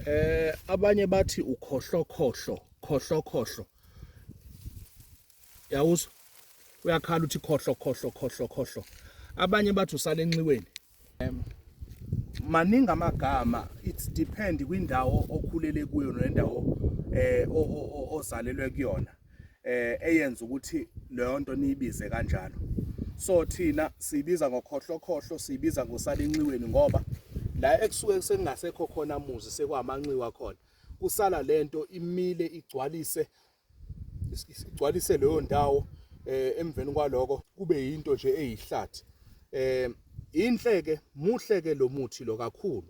eh abanye bathi ukhohlokhohlo khohlokhohlo yawuzo uyakhala uthi khohlo khohlo khohlo khohlo abanye bathi usale enxiweni maningi amagama it's depend kwindawo okhulele kuyo nendawo eh ozalelwe kuyona eh eyenza ukuthi leyo nto niyibize kanjalo so thina siyibiza ngokhohlokhohlo siyibiza ngosalinxiweni ngoba la ekusuke sekungasekho khona muzi sekwamanxiwa khona kusala lento imile igcwalise igcwalise leyo ndawo eh emveni kwaloko kube yinto nje eyihlathi eh inhle ke muhle ke lo muthi lo kakhulu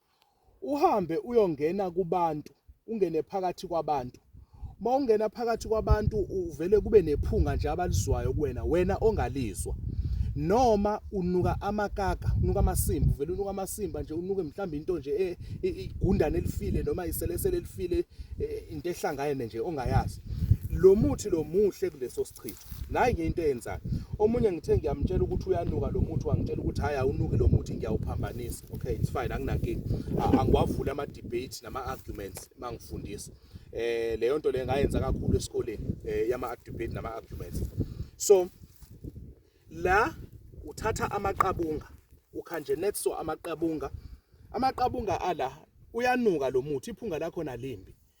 uhambe uyongena kubantu ungene phakathi kwabantu uma ungena phakathi kwabantu uvele kube nephunga nje abalizwayo kuwena wena ongalizwa noma unuka amakaka unuka amasimba uvele unuka amasimba nje unuke mhlawumbe into nje e, igundane elifile noma iselesele elifile e, into ehlangane nje ongayazi lo muthi lo muhle kuleso Chithi. Nayi ke into eyenzayo. Omunye ngithe ngiyamtshela ukuthi uyanuka lo muthi wangitshela ukuthi hayi awunuki lo muthi ngiyawuphambanisa. Okay, it's fine anginankinga. Angiwavuli ama debate nama arguments mangifundisa. Eh leyo nto le ngayenza kakhulu esikoleni eh yama debate nama arguments. So la uthatha amaqabunga ukhanje netso amaqabunga amaqabunga ala uyanuka lo muthi iphunga lakho nalimbi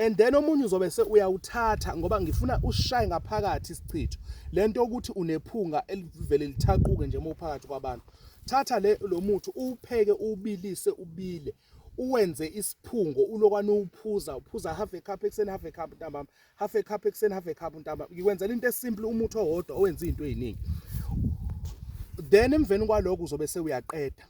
and then omunye uzobe se uyawuthatha ngoba ngifuna ushaye ngaphakathi isichitho lento ukuthi unephunga elivele lithaquke nje uma uphakathi kwabantu thatha le lo muthi uwupheke ubilise ubile uwenze isiphungo ulokwane uphuza uphuza half a cup ekuseni half a cup ntambama half a cup ekuseni half a cup ntambama ngikwenzela into esimple umuthi owodwa owenza izinto eziningi then emveni kwaloko uzobe sewuyaqeda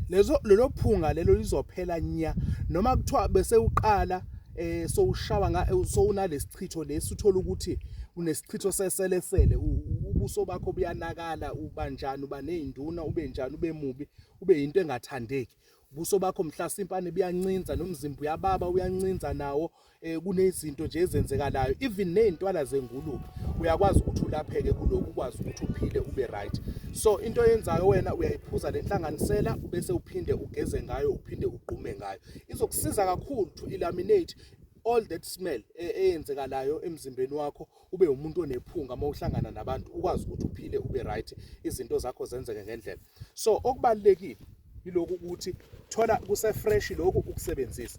lezo lelo phunga lelo lizophela nya noma kuthiwa bese uqala eh sowushawa nga eh, sowunalesichitho lesi uthola ukuthi unesichitho seselesele ubuso bakho buyanakala ubanjani uba nezinduna ube njani ube mubi ube yinto engathandeki ubuso bakho mhlasimpa nebuyancinza nomzimba uyababa uyancinza nawo eh kunezinto nje ezenzekalayo even nezintwala zengulube uyakwazi ukuthi ulapheke kuloku ukwazi ukuthi uphile ube right so into oyenzayo wena uyayiphuza lenhlanganisela bese uphinde ugeze ngayo uphinde ugqume ngayo izokusiza kakhulu to eliminate all that smell e, eyenzekalayo emzimbeni wakho ube umuntu onephunga uma uhlangana nabantu ukwazi ukuthi uphile ube right izinto zakho zenzeke ngendlela so okubalekile yiloku ukuthi thola kuse fresh lokhu ukusebenzisa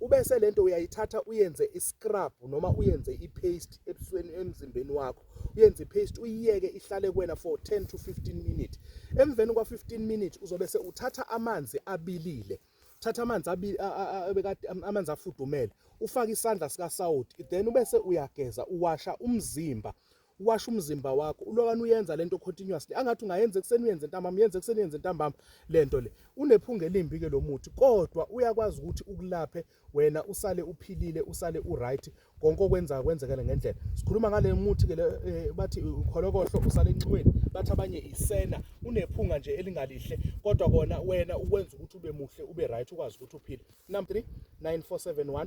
ubese lento uyayithatha uyenze iscrub noma uyenze ipaste ebusweni emzimbeni wakho uyenze ipaste uyiyeke ihlale kuwena for 10 to 15 minutes emveni kwa 15 minutes uzobe se uthatha amanzi abilile thatha amanzi abekade amanzi afudumele ufake isandla sikasawoti then ubese uyageza uwasha umzimba uwasha umzimba wakho ulokani uyenza lento continuously angathi ungayenza ekuseni uyenze ntambama uyenza ekuseni uyenze ntambama lento le unephunga elimbi ke lo muthi kodwa uyakwazi ukuthi ukulaphe wena usale uphilile usale uright konke okwenza kwenzekele ngendlela sikhuluma ngale muthi ke eh, bathi ukholokohlo usale enxiweni bathi abanye isena unephunga nje elingalihle kodwa kona wena ukwenza ukuthi ube muhle ube right ukwazi ukuthi uphile number 3 9471